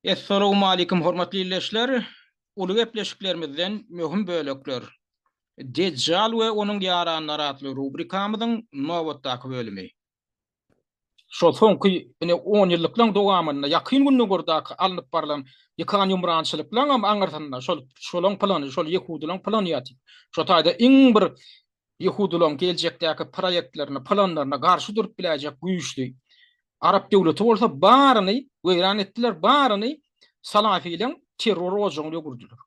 Essalawmalikim hormatly ildeşler! Uly gepleşiklerimizden möhüm bölekler. Dejjal we onuň ýaranlary atly rubrikamyzyň nobatdaky bölümi. Şol soňky ine on ýyllyklaň dowamynda ýakyn gündogardaky alnyp barlan ýykan-ýumrançylyklaňam aňyrsynda şol şolaň plany, şol ýehudylaň plany ýatyp. Şo taýda iň bir ýehudylaryň geljekdäki proýektlerine, planlaryna garşy durup biläýjek güýçli arap döwleti bolsa baryny weýran etdiler, baryny salafiliň terror ojagyna öwürdiler.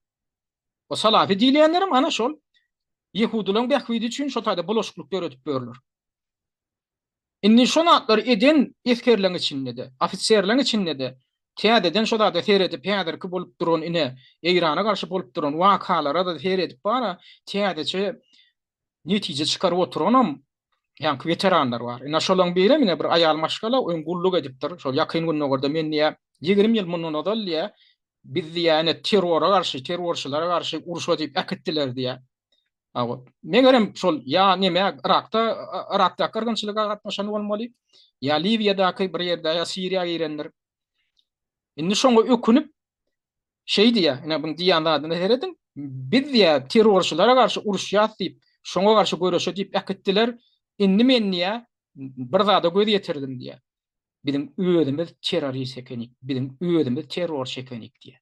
O salafi diýilýänlerem ana şol ýehudylaryň bähbidi üçin şol taýda bulaşyklyk döredip ýörler. Indi şo zatlary eden esgerleň içinde-de, ofiserleň içinde-de täzeden şo zada seredip, häzirki bolup duran ine, Eýrana garşy bolup duran wakalara-da seredip bar-a, täzeçe netije çykaryp oturanam ýaňky weteranlar bar. Ine, şolaryň birem ine bir aýal maşgala öň gulluk edipdir. Şol Ýakyn Gündogarda men diýýä, ýigrimi ýyl mundan ozal diýýä, biz diýýä, ine, terrora garşy, terrorçylara garşy urşa diýip äkitdiler diýýä. Megerem şol ýa neme Yrakda Yrakda gyrgynçylyga gatnaşan bolmaly. Ýa Liwiýadaky bir ýerde ýa Siriýa girendir. Indi şoňa ökünip şeý diýýär, ine bu diýýän zadyna herediň. Biz diýýär terrorçylara garşy uruşýas diýip, şoňa garşy göreşe diýip äkitdiler. Indi men diýýär bir zada göz ýetirdim diýýär. Biziň özümiz terrorist ekenik, biziň özümiz terrorçy ekenik diýýär.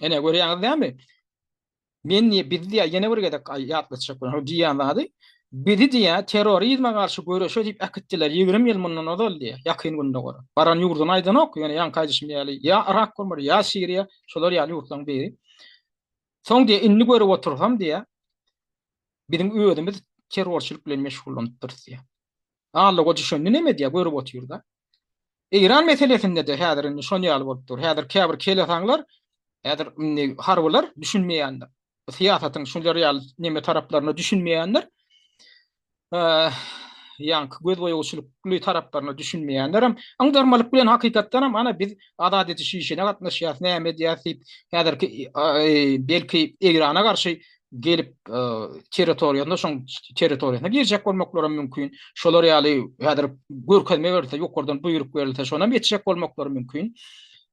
Ene görýäňiz näme? Men diýe biz diýe ýene bir gezek ýatlatjak bolan. Diýýän zady bizi diýe terrorizme garşy göreşe diýip äkitdiler 20 ýyl mundan ozal diýe ýakyn günde gör. Baran ýurduny aýdanok, ýöne ýaňky aýdyşym ýaly ýa Irak bolmar, ýa Siriýa, şolar ýaly ýurtlaryň biri. Soň diýe indi görüp otursam diýe biziň özümiz terrorçylyk bilen meşgullanypdyrys diýe. Alla goja şonda näme diýe görüp otyrda. Eýran meselesinde-de häzir indi şol ýaly bolup dur. Häzir käbir kelesaňlar, häzir indi harbylar düşünmeýändir. Bu syýasatyň şular ýaly neme taraplaryna düşünmeýändir. Ýaňky gözboýagçylykly taraplaryna düşünmeýändir hem. Aňdarmalyk bilen hakykatdan hem ana biz azat ediş işine gatnaşýarys, näme edýäris diýip, häzirki belki Eýrana garşy gelip territoriýasyna şoň territoriýasyna girjek bolmaklary hem mümkin. Şolar ýaly häzir görkezme berilse, ýokardan buýruk berilse, şonam geçjek bolmaklary mümkin.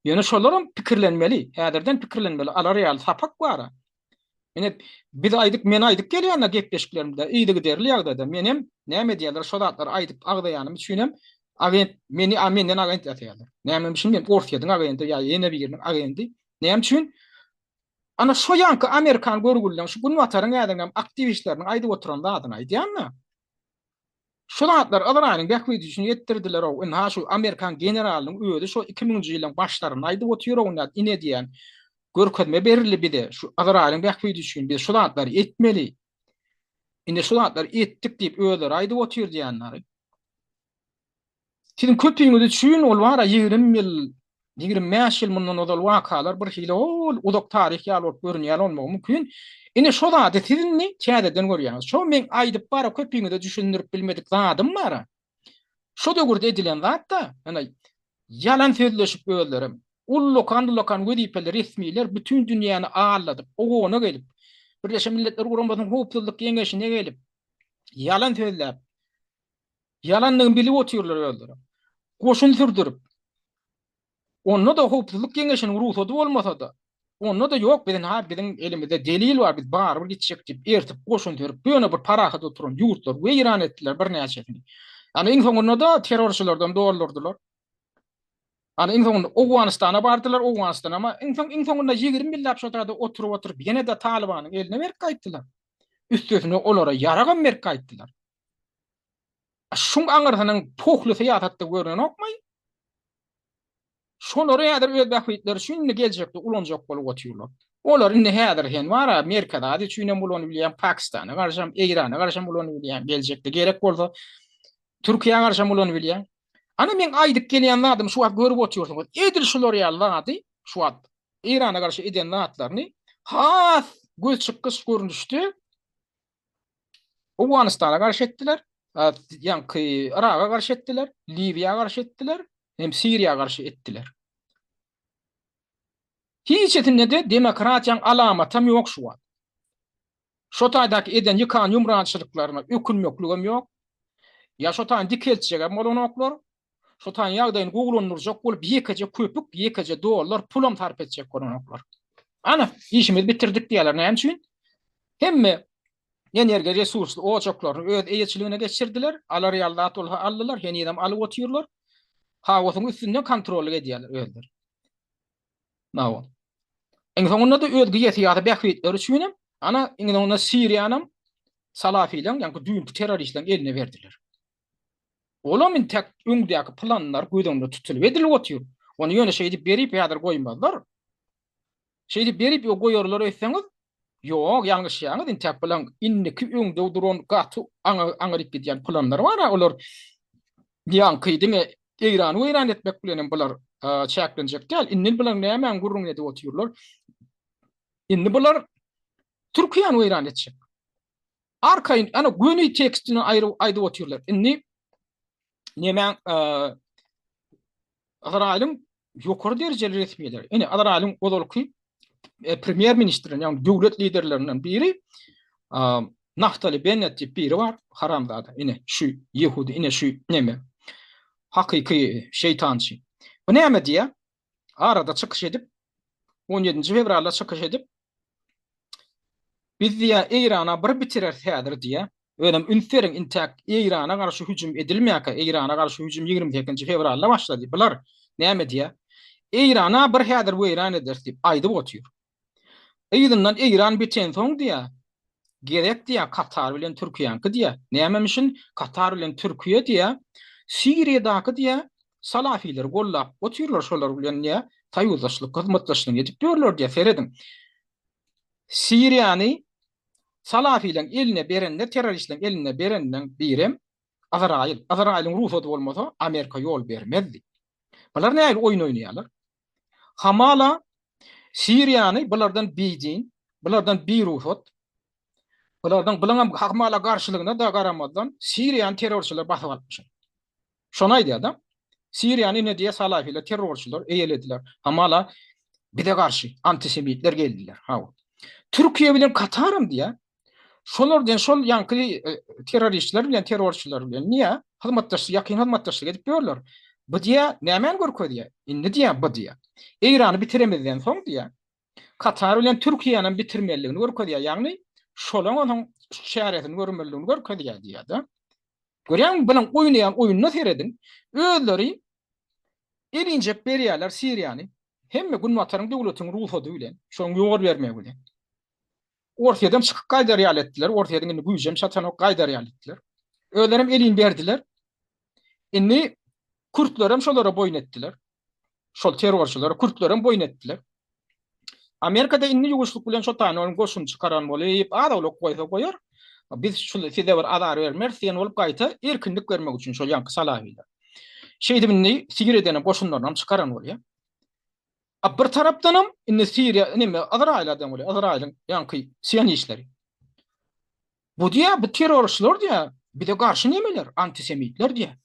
Ýöne şolar hem pikirlenmeli, häzirden pikirlenmeli, alar ýaly sapak bar. Ine biz aýdyp, men aýdyp gelýän gepleşiklerimde, yzy giderli ýagdaýda men hem näme diýerler, şo zatlary aýdyp agzaýanym üçin hem agent meni menden agent ýasaýarlar. Näme üçin men Orsýetiň agendy ýa ýene biriniň agendy? Näme üçin? Ana şo ýanky amerikan görgülileň şu günbataryň ädinläp aktiwistleriniň aýdyp oturan zadyny aýdýan-da. Şu zatlar Yzraýylyň bähbidi üçin etdirdiler-ow, ynha şu amerikan generalynyň özi şo iki müňünji ýylyň başlarynda aýdyp otyr-ow nät ine diýýän görkezme berildi bize şu Yzraýylyň bähbidi üçin biz şu zatlary etmeli. Ine şu zatlary etdik diýip özleri aýdyp otyr diýýänleri. Siziň köpüňiz üçin ol wara ýigrimi ýyl, ýigrimi bäş ýyl mundan ozal wakalar bir hili ol uzak taryh ýaly bolup görünýän bolmagy mümkin. Ine şo zady siz indi täzeden görýäňiz. Şo meň aýdyp bara köpüňize düşündirip bilmedik zadym bara. Şo döwürde edilen zat-da, ýöne ýalan sözleşip özlerem. Ullakan-ullakan wezipeli resmiler bütin dünýäni alladyp, OON-a gelip, Birleşen Milletler Guramasynyň Howpsuzlyk Geňeşine gelip, ýalan sözläp, Ýalandygyny bilip otyrlar özleri. Goşun sürdürip, onda-da Howpsuzlyk Geňeşiniň rugsady bolmasa-da, onda-da ýok, biziň ha biziň elimizde delil bar, biz barybir gitjek diýip, ertip goşun sürüp, ýöne bir parahat oturan ýurtlary weýran etdiler birnäçesini. Ýagny iň soňunda-da terrorçylardan doldurdylar. Ýagny iň soňunda Owganystana bardylar, Owganystan ama iň soň iň soňunda ýigrimi ýyllap şo taýda oturyp-oturyp ýene-de Talybanyň eline berip gaýtdylar. Üstesine olara ýaragam berip gaýtdylar. Şuň aňyrsynyň pohly syýasatda görnenokmaý? Şolary häzir öz bähbitleri üçin indi geljekde ulanjak bolup otyrlar. Olar indi häzir sen bara Merkezi Aziýa üçin hem ulanyp bilýäň, Pakistana garşy hem, Eýrana garşy hem ulanyp bilýäň, geljekde gerek bolsa Türkiýä garşy hem ulanyp bilýäň. Ana meň aýdyp gelýän zadym şu wagt görüp otyrsyňyz. Edil şular ýaly zady şu wagt Eýrana garşy eden zatlaryny has gözçykgyç görnüşde Owganystana garşy etdiler, ýaňky Yraga garşy etdiler, Liwiýa garşy etdiler, hem Siriýa garşy etdiler. Hiçesinde-de demokratiýaň alamatam ýok şu wagt. Şo taýdaky eden ýykan ýumrançylyklaryna ökünmekligem ýok. Ýa şo taýyny dikeltjegem bolanoklar, Şu taýyn ýagdaýyny gowulandyrjak bolup ýekeje köpük, ýekeje dollar pulam sarp etjek bolanoklar. Ana, işimizi bitirdik diýýärler. Näme üçin? Hemme energiýa resursly ojaklaryny öz eýeçiligine geçirdiler, alar ýaly zat bolsa aldylar, henizem alyp otyrlar. Haosyň üstünde kontrollyk edýärler özleri. Nawa. Iň soňunda da öz geosyýasy bähbitleri üçin hem ana iň soňunda Siriýany hem salafileň, ýa-da düýnki terroristleriň eline berdiler. Olam intäk öňdäki planlar göz öňünde tutulyp edilip otyr. Ony ýöne şeýdip berip häzir goýmazlar. Şeýdip berip ýok goýarlar öýtseňiz, ýok, ýalňyşýaňyz, intäk plan indiki öňde duran gaty aňa aňryk gidýän planlar bar-a, olar ýaňky diňe Eýrany weýran etmek bilen hem bular çäklenjek däl. Indi bular nämäň gürrüňini edip otyrlar? Indi bular Türkiýäni weýran etjek. Arkaýyn, ýa-ni göni tekstini aýryp aýdyp otyrlar. Indi nemäň Yzraýylyň ýokary derejeli resmileri, ine Yzraýylyň ozalky e, premýer ministri, ýagny döwlet liderlerinden biri Naftali Bennet diýip biri bar, haramzada. Ine şu ýehudi, ine şu neme. Hakyky şeytançy. Bu näme diýýär? arada çykyş edip, 17-nji fewralda çykyş edip, biz diýýär, Eýrana bir bitireris häzir diýýär. Özem üns beriň, intäk Eýrana garşy hüjüm edilmeýärkä, Eýrana garşy hüjüm ýigrimi sekizinji fewralda başlady. Bular näme diýýär? Eýrana bir häzir weýran ederis diýip aýdyp otyr. Yzyndan Eýran bitensoň diýýär, Gerek diýýär Katar bilen Türkiýäňki diýýär. Nämemişin Katar bilen Türkiýe diýýär, Siriýadaky diýýär salafilleri gollap otyrlar şolar bilen diýýär soýuzdaşlyk hyzmatdaşlygyny edip ýörler diýýär serediň. Siriýany salafileriň eline berende terroristleriň eline berenden birem Azraýyl. Azraýylyň rugsady bolmasa Amerika ýol bermezdi. Bular nähili oýun oýnaýarlar? Hamala Siriýany bulardan bidin, bulardan birugsat, bulardan bulardan hamala garşylygyna da garamazdan Siriýany terrorçylar basyp alypmyşlar. Şony aýdýar-da. Siriýany ine diýýär salafila terrorçylar eýelediler. Hamala bize garşy antisemitler geldiler. Hawa. Türkiýe bilen Kataram diýýär. Şolar diýen şol ýaňky e, terroristler bilen terrorçylar bilen niýe hyzmatdaşlyk ýakyn hyzmatdaşlyk edip ýörler. Bu diýä nämäni görkezýär? Indi diýä bu diýä. Eýrany bitiremizden soň diýä. Katar bilen Türkiýäni hem bitirmeliligini görkezýär. Ýagny şolaň onuň çäresini görmeliligini görkezýär diýýär-de. Görýäňmi bilen oýnaýan oýnuny serediň. Özleri elinjek berýärler Siriýany. Hemme günbataryň döwletiniň rugsady bilen, şoň ýor bermegi bilen. Orsýetden çykyp gaýdar ýaly etdiler. Orsýetiň indi güýjem çatanok, gaýdar ýaly etdiler. Özlerem elini berdiler. Indi kürtlerem şolara boýun etdiler. Şol terrorçylara kürtlerem boýun etdiler. Amerikada indi ýuwuşlyk bilen şo tany onuň goşun çykaran bolup, az owlak goýsa goýar. Biz şu size bir azar bermeris diýen bolup gaýta erkinlik bermek üçin şol ýaňky salahylar. Şeýdip indi sigir edene goşunlaryny hem çykaran bolýar. A bir tarapdanam indi Siriýa neme Ysraýyla deň bolýar. Ysraýylyň ýaňky sionistleri. Bu diýýär, bu terrorçylar diýýär, bize garşy nemeler, antisemitler diýýär.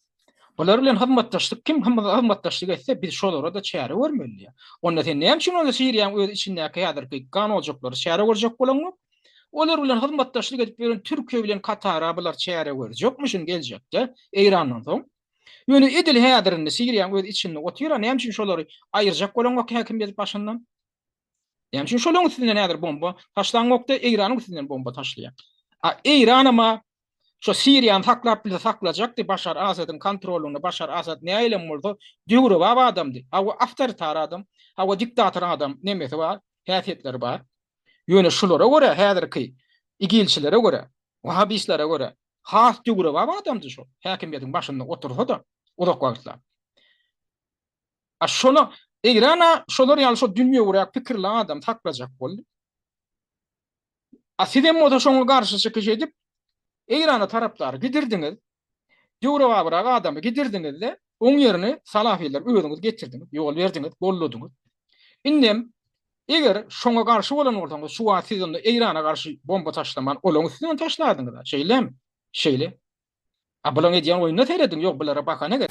Bular bilen hyzmatdaşlyk kim hyzmatdaşlyk etse, biz şolara-da çäre görmeli diýýär. Onda sen näme üçin onda Siriýanyň öz içindäki häzirki gan ojaklary çäre görjek bolaňok? Olar bilen hyzmatdaşlyk edip ýören Türkiýe bilen Katara bular çäre görjekmişin geljekde Eýrandan soň. Ýöne edil häzirinde Siriýaň öz içinde otyr-a, näme üçin şolary aýyrjak bolaňok häkim edip başyndan? Näme üçin şolaň üstünden häzir bomba taşlaňok-da, Eýranyň üstünden bomba taşlaýaň? A Eýranam-a şo Siriýany saklap bilse saklajakdy, Başar Asadyň kontrolynda, Başar Asad näilem bolsa döwrebap adamdy, hawa awtoritar adam, hawa diktator adam nemesi bar, häsiýetleri bar. Ýöne şulara görä häzirki igilçilere görä, wahabislere görä has döwrebap adamdy şol. Häkimiýetiň başynda otursa-da uzak wagtlap. A şola Eýrana şolar ýaly şo dünýewüräk pikirli adam saklajak boldy. A siz hem bolsa şoňa garşy çykyş edip, Eýrana tarapdary gidirdiňiz. Döwrebabrak adamy gidirdiňiz-de, oň ýerine salafilleri özüňiz getirdiňiz, ýol berdiňiz, golladyňyz. Indem Eger şoňa garşy bolan bolsaňyz, şu wagt siz onda Eýrana garşy bomba taşlaman, olaň üstüne hem taşlardyňyz-a, şeýlemi? Şeýle. A bulaň edýän oýnuna serediň, ýok bulara bahana gerek.